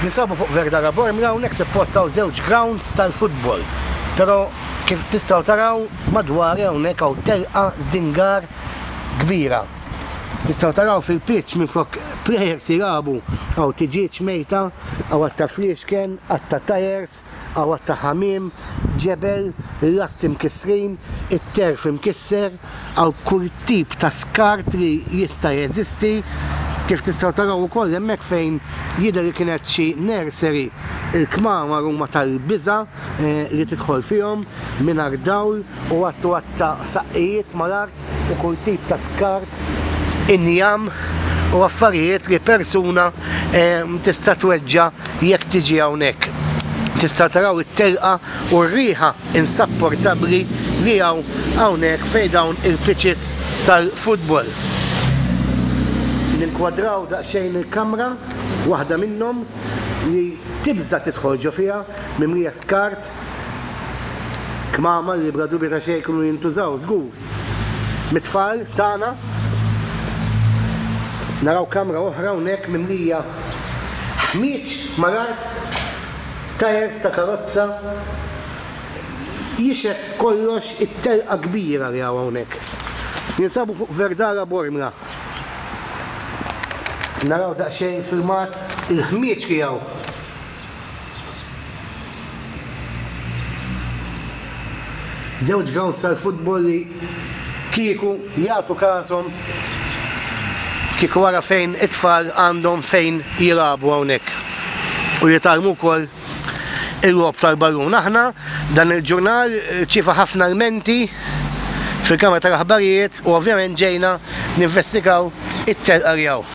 Ninsabu fuq Verdara Bormla, hawnhekk suppost hawn żewġ grounds tal-futbol, pero kif tistgħu taraw madwari hawnhekk hawn telqa żdingar kbira. Tistgħu taraw fil-pitch minflok players jilagħbu hawn tiġieġ mejta, hawn għadd ta' fliexken, għadd ta' tyres, Għawad ta' ħamiem, ġebel, lasti mkissrin, it-terf imkisser, hawn kull tip ta' skart li jista' jeżisti, kif tistgħu taraw ukoll hemmhekk fejn jidher li kienet xi nursery. Il-kmamar huma tal-biża' li tidħol fihom, mingħajr dawl u għadd u għadd ta' saqqijiet mal-art. skart u kull tip ta' skart, injam u affarijiet li persuna tista' tweġġa' jekk tiġi hawnhekk. Tistgħu taraw it-telqa u r-riħa insapportabbli li hawn hawnhekk fejn dawn il-pitches tal-futbol. Ninkwadraw daqsxejn il-kamra, waħda minnhom li tibża' tidħol ġo fiha, mimlija skart, Kmamar li bla dubju ta' xejn kienu jintużaw żgur mit-tfal tagħna. Naraw kamra oħra hawnhekk mimlija ħmieġ mal-art, tajers ta' karozza, jixhed kollox it-telqa kbira li hawn hawnhekk. Ninsabu fuq Verdara Bormla. Naraw daqsxejn filmat il-ħmieġ li hawn. Żewġ grounds tal-futbol li kieku jagħtu kashom kieku wara fejn it-tfal għandhom fejn jilagħbu hawnhekk u jitgħallmu wkoll il-logħob tal-ballun. Aħna dan il-ġurnal ċifa ħafna l-menti fil-kamra tal-aħbarijiet u ovvjament ġejna ninvestigaw it-telqa li hawn.